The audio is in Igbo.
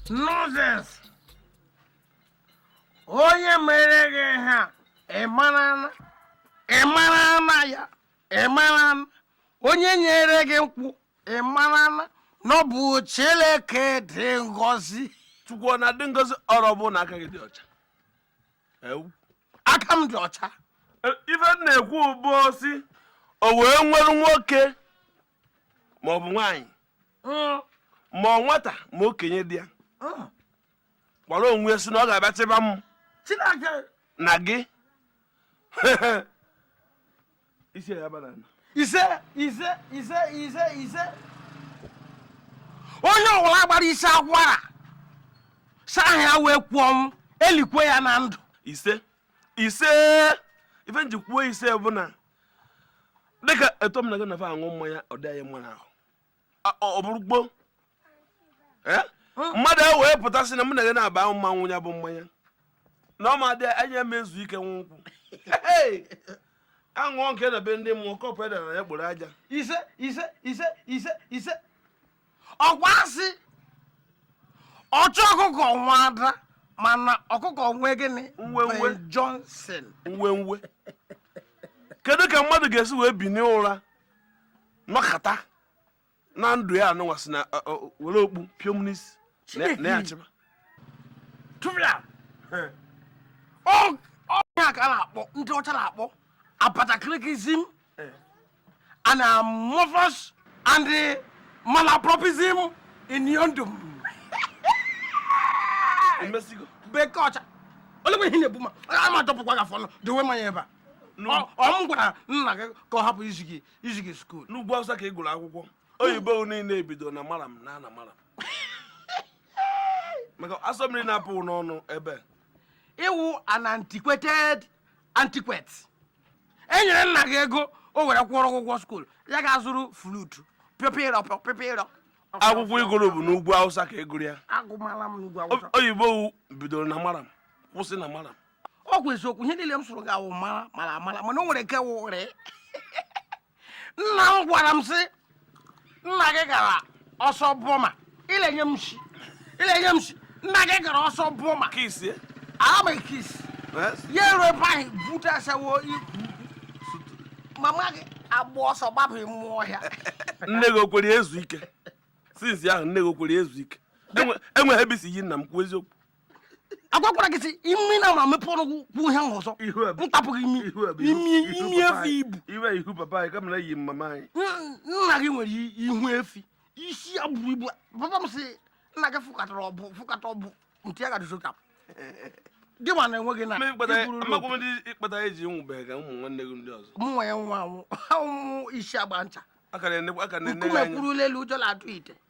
nonsense onye mere gị ha ịmarana ịmarana ya ịmarana onye nyere gị nkwụ ịmarana na ọ bụ Chineke dị ngọzi chukwu ọ na-adị ngọzi ọrụ ọ bụrụ na aka gị dị ọcha ewu aka m dị ọcha E, ife m na-ekwu bụ a sị o wee nwere nwoke ma ọ bụ nwaanyị Mm, ma ọ nwata ma okenye dị ya mm. gwara onwe ya sị na ọ ga-abịa chịba m Chineke na gị isi ya aba n'ala. ise ise ise ise ise onye ọwụla gbara isi akwara saa anya wee kwuo m e likwe ya na ndụ ise ise ife m ji kwuo ise bụ na dịka etu m na gị na fa aṅụ mmanya ọ dị anyị mma n'ahụ A- ọ ọ bụrụ gboo Eh? mmadụ ahụ wee pụta sị na mụ na gị naabọ ama ṅụ ya bụ mmanya na ọ ma dị anya eme ezu ike nwa nkwụ aṅụọ nke na be ndị mmụọ kọpụ edara ya kporo aja ise ise ise ise ise ọ kwa a sị ọchụ ọkụkọ nwe ada mana ọkụkọ nwe gịnị Nwe, nwe. Ben Johnson nwe nwe kedu ka mmadụ ga-esi wee binie ụra nọkata na ndụ ya anụnwa sị na ọ, ọ, were okpu pịọ m n'isi na- Chineke. na ya achịba tụfịa ọ ọ ihe a ka a na-akpọ ndị ọcha na-akpọ abatakirikizim and amorphous and malapropism in yondum bekee ọcha olekwa ihe na-ebu ma a ma dọpụkwa gị afọ ọnụ dowe mmanya ebe a ọ m gwara nna gị ka ọ hapụ ịzụ gị ịzụ gị skuul n'ugwu Awụsa ka ị gụrụ akwụkwọ oyibo niile e bido na maram na ana maram maka asọ mmiri na-apụ gị n'ọnụ ebe ị wụ an antiquated antiquate e nyere nna gị ego o were kwụrụ ụgwọ skuul ya gaa zụrụ flutu pịpịrọ pịpịrọ akwụkwọ ị gụrụ bụ n'ugwu Awụsa ka ị gụrụ ya agụmala m n'ugwu Awụsa oyibo bidoro na maram kwụsị na maram ọ kwa eziokwu ihe niile m sụrụ gị a wụ mara mara mara mana o nwere nke wụrị nna m gwara m sị nna gị gara ọsọ Burma ilenye m shi ilenye m shi nna gị gara ọsọ Burma kisi amaghị kis ya eru ebe ahụ bute asawo ikwu mama gị agba ọsọ gbapụ mmụ ọhịa nne gị o kwere ezu ike since ahụ nne gị o kwere ezu ike enweghị ebe i si yi nna m kwuo eziokwu agwakwara gị sị imi na ma mepee ọnụ gị kwuo ihe ahụ ọzọ ihu a bụ- m tapụ gị imi ihu a bụ ihu- imi ihu imi papa efi anyị. ibu iwe ihu papa anyị kamara yi mama anyị Nna- nna gị nwere i- ihu efi isi ya buru ibu papa m sị nna gị fụkatara ọbụ fụkata ọbụ ntị ya ga-adịzi ka dị ma na enweghị na amakwa m ndị ihe kpata anyị ji nwụbeghị ka ụmụ nwanne gị ndị ọzọ mụnwa ya nwa anwụ ha ụmụ isi agba ncha aka na-ene aka na-ene nkume anyị kwurula elu ụjọ na-atụ ite